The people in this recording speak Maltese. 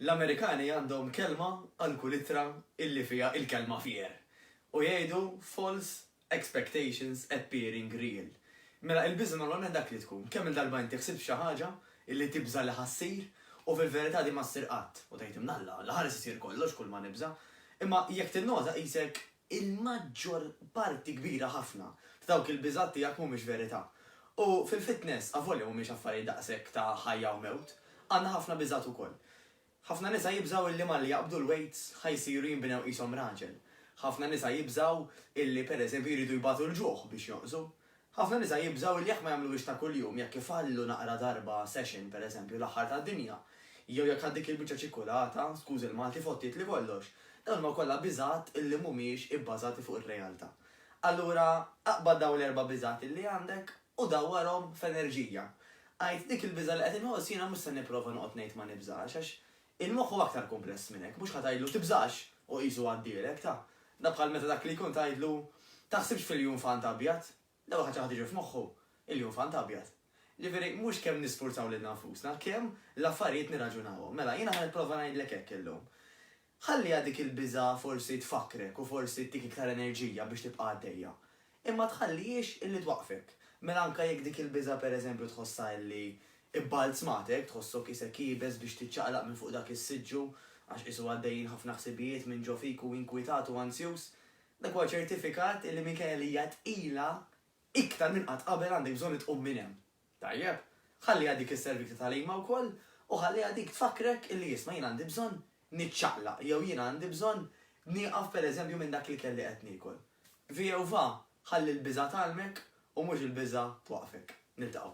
L-Amerikani għandhom kelma għal kull ittra illi fiha il-kelma fear u jgħidu false expectations appearing real. Mela il-biża' normalment dak li tkun, kemm-il darba inti ħsibt f'xi ħaġa illi tibża' li ħa ssir u fil-verità din ma ssir qatt u tgħid imnalla, la ħares isir kollox kull ma nibża'. Imma jekk tinnota qisek il-maġġor parti kbira ħafna ta' dawk il-biżgħat tiegħek mhumiex verità. U fil-fitness, avolja mhumiex affarijiet daqshekk ta' ħajja u mewt, għandna ħafna biżgħat ukoll. Ħafna nisa jibżgħu illi malli jaqbdu l-wejts ħa jsiru jinbnew qishom raġel. Ħafna nisa jibżgħu illi, pereżempju, jridu jbatu l-ġuħ biex jonqsu. Ħafna nisa jibżgħu li jekk ma jagħmluhiex ta' kuljum, jekk ifallu naqra darba session, per eżempju, l-aħħar tad-dinja, jew jekk għal dik il-biċċa ċikkulata, skużi l-Malti, fottietli kollox, dawn huma kollha biżgħat illi mhumiex ibbażati fuq ir-realtà. Allura, aqbad dawn l-erba' biżgħat illi għandek u dawwarhom f'enerġija. Għid, dik il-biża' li qed inħoss jiena mhux se nipprova noqgħod ngħid ma nibżax, għax Il-moħħ hu aktar kumpless minn hekk, mhux ħa tgħidlu tibżax u qisu għaddielek, ta. Dan bħal meta dak li jkun tgħidlu taħsibx fil-junfant abjad, l-ewwel ħaġa ħa tiġi f'moħħu, il-junfant abjad. Ġifieri mhux kemm nisfurzaw lilna nfusna, kemm l-affarijiet nirraġunawhom. Mela, jiena ħa nipprova ngħidlek hekk illum. Ħalliha dik il-biża' forsi tfakkrek u forsi ttik iktar enerġija biex tibqa' għaddejja. Imma ma tħallihiex illi twaqqfek. Mela anke jekk dik il-biża' pereżempju tħossha illi bbalzmatek, tħossok isek iebes biex tiċċaqlaq minn fuq dak is-siġġu għax qisu għaddejjin ħafna ħsibijiet minn ġo fik u inkwitat u anzjuż, dak huwa ċertifikat illi minkejja li hija tqila, iktar minn qatt qabel għandek bżonn li tqum minn hemm. Tajjeb, ħalliha dik is-servita tal-qima wkoll u ħalliha dik tfakkrek illi isma' jien għandi bżonn niċċaqlaq jew jiena għandi bżonn nieqaf pereżempju minn dak l-ikel li qed niekol. Vjehovah, ħalli l-biża' tgħallmek u mhux il-biża' twaqqfek. Niltaqgħu.